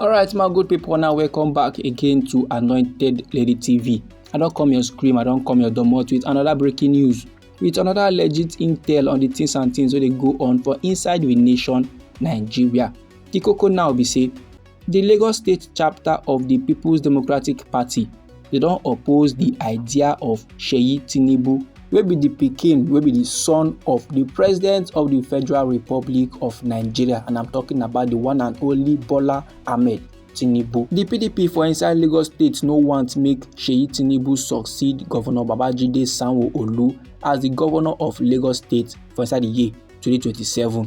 alright my good people now welcome back again to anointed lady tv i don't come your scream i don't come your domot with another breaking news with another legit intel on the things and things where they go on for inside the nation nigeria the coco now be say di lagos state chapter of di peoples democratic party dey don oppose di idea of seyi tinubu wey be di pikin wey be di son of di president of di federal republic of nigeria and i'm talking about di one and only bola ahmed tinubu di pdp for inside lagos state no want make seyi tinubu succeed governor babajide sanwo-olu as di governor of lagos state for inside di year 2027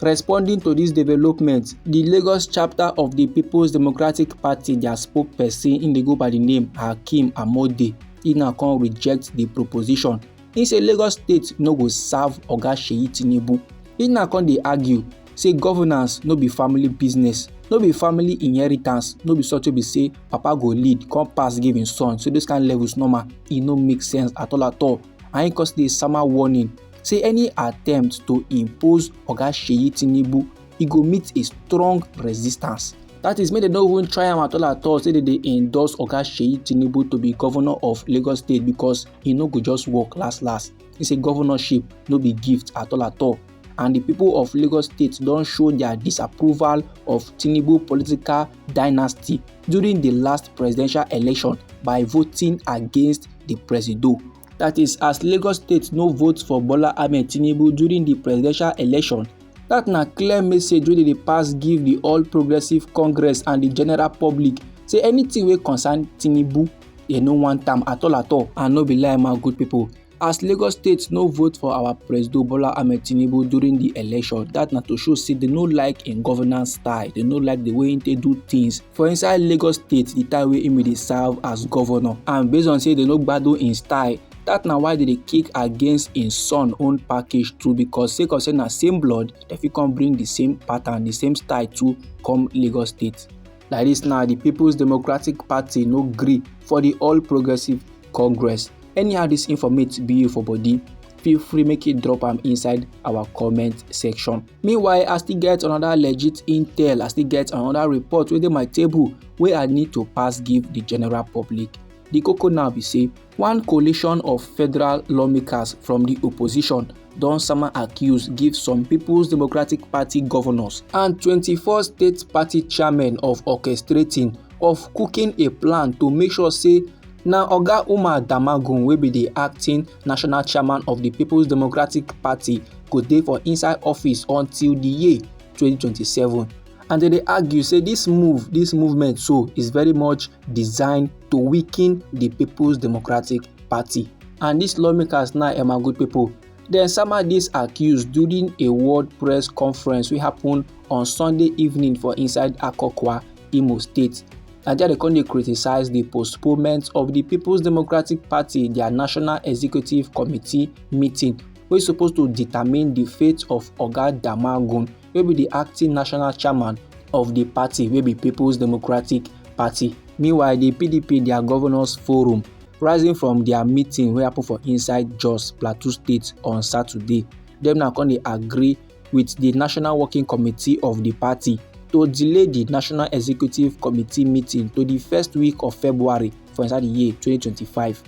Responding to dis development, di Lagos chapter of di Peoples Democratic Party dia spokesperson im dey go by di name Hakeem Amode e now come reject di proposition. Im say Lagos state no go serve Oga Seyi Tinubu. E now come dey argue say governance no be family business, no be family inheritance, no be something be say papa go lead come pass give im son. So those kind levels normal, e no make sense at all at all. And im come still dey sama warning say any attempt to impose oga sheyi tinubu e go meet a strong resistance that is make dem no even try am at all at all say dem dey endorse oga sheyi tinubu to be governor of lagos state because e no go just work last last he say governorship no be gift at all at all and the people of Lagos State don show their disapproval of Tinubu political dynasty during the last presidential election by voting against the presido. That is, as Lagos State no vote for Bola Ahmed Tinubu during the presidential election, that na clear message wey dey pass give the All Progressives Congress and the general public say anything wey concern Tinubu, they no want am at all at all. And no be lie, my good people. As Lagos State no vote for our President Bola Ahmed Tinubu during the election, that na to show say they no like im governance style, they no like the way he dey do things. for inside lagos state the time wey imi dey serve as governor and based on say they no gbadun im style that na why they dey kick against im son own package too because sake of say na same blood dem fit come bring the same pattern the same style too come lagos state like this now the peoples democratic party no gree for the all progressives congress anyhow this informate be you for body feel free make you drop am inside our comment section meanwhile i still get another legit intel i still get another report wey dey my table wey i need to pass give the general public The koko now be say one coalition of federal lawmakers from the opposition don sama accuse give some People's Democratic Party governors and 24 state party chairmen of orchestrating of cooking a plan to make sure say na oga umar damagum wey be di acting national chairman of di peoples democratic party go dey for inside office until di year 2027 and dem dey argue say dis move dis movement so is very much designed to weaken di peoples democratic party and dis lawmakers now emma good pipo dem sama dis accuse during a world press conference wey happen on sunday evening for inside akokwa imo state na there dem come dey criticise di postponement of di peoples democratic party dia national executive committee meeting wey suppose to determine di fate of oga damagum wey be di acting national chairman of di party wey be peoples democratic party meanwhile di pdp dia governors forum rising from dia meeting wey happen for inside jos plateau state on saturday dem now come dey agree with the National Working Committee of the party to delay the National Executive Committee meeting to the first week of February for inside the year 2025.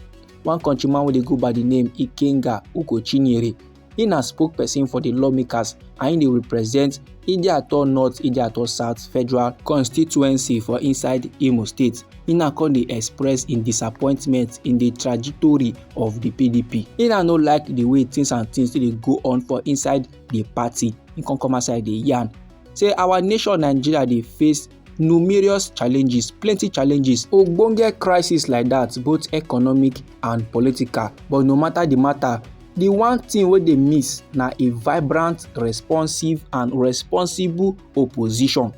One countryman wey dey go by the name Ikenga Ugochinyere, he na spokesperson for the lawmakers and he dey represent Idiato North, Idiato South Federal Constituency for inside Imo State. He na come dey express im disappointment in the trajectory of the pdp He na no like the way things and things still dey go on for inside the party He come come outside dey yarn say our nation nigeria dey face numerous challenges plenty challenges ogbonge crisis like that both economic and political but no matter the matter the one thing wey dey miss na a vibrant responsive and responsible opposition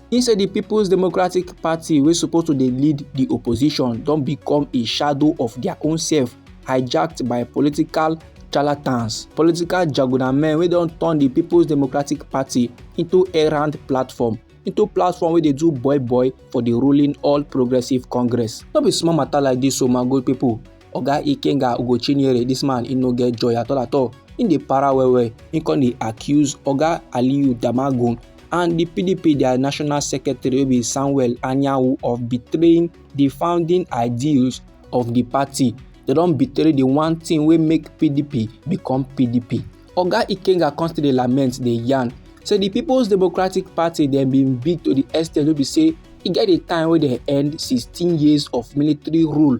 He say the People's Democratic Party wey suppose to dey lead the opposition don become a shadow of their own self hijacked by political charlatans, political jagunamen wey don turn the People's Democratic Party into errand platform into platform wey dey do boy boy for the ruling All Progressive Congress. No be small matter like this o oh my good people. oga ikenga ugochinyere dis man e no get joy at all at all im dey para well well im come dey accuse oga aliyu damagun and di pdp dia national secretary wey be samuel anyanwu of betraying di founding ideals of di party dem don betray di one thing wey make pdp become pdp oga ikenga come still dey lament dey yarn say di peoples democratic party dem bin big to di extent wey be say e get a time wey dem end sixteen years of military rule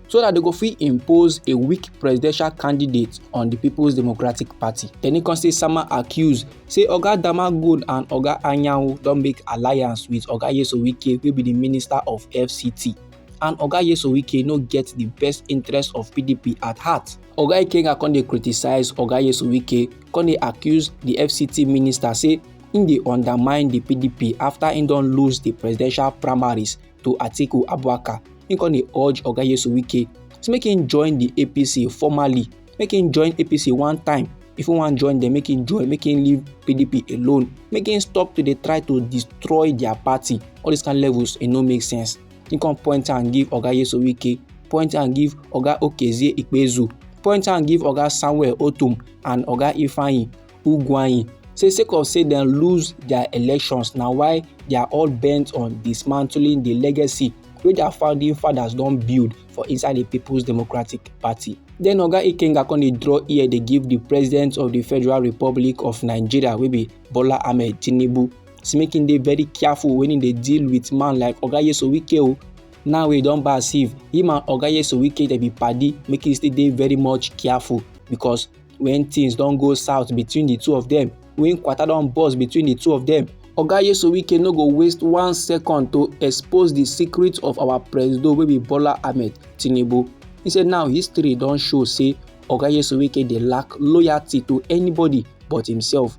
so that they go fit impose a weak presidential candidate on the people's democratic party dem e come say sama accuse say oga damagod and oga anyanwu don make alliance with oga yesowike wey be the minister of fct and oga yesowike no get the best interest of pdp at heart oga ikenga come dey criticise oga yesowike come dey accuse the fct minister say im dey undermine the pdp after im don lose the presidential primaries to atiku abubakar im come dey urge oga yesu wike say make im join di apc formally make im join apc one time if im wan join dem make im join make im leave pdp alone make im stop to dey try to destroy dia party all dis kind levels e no make sense im come point am give oga yesu wike point am give oga okezie ikpezu point am give oga samuel otum and oga ifeanyi Ugwuanyi say sake of say dem lose dia elections na why dia all bent on dismantling di legacy wey dia founding fathers don build for inside di People's Democratic Party. Den Oga Ikenga come dey draw ear dey give di President of di Federal Republic of Nigeria wey be Bola Ahmed Tinubu say make im dey very careful wen im dey deal wit man like Oga Nyesom Wike o. Now wey e don pass if him and Oga Nyesom Wike dey be padi make im still dey very much careful because when things don go south between the two of them when kwata don burst between the two of them oga yesowike no go waste one second to expose the secret of our presido wey be bola ahmed tinubu he say now history don show say oga yesowike dey lack loyalty to anybody but himself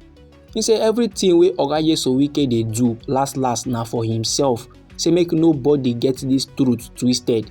He say everything wey Oga Yeso Wike dey do last last na for himself. Say make nobody get this truth twisted.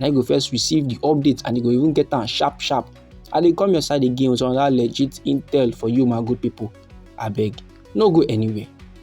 na you go first receive the update and you go even get am sharp sharp i dey come your side again with another legit intel for you my good people abeg no go anywhere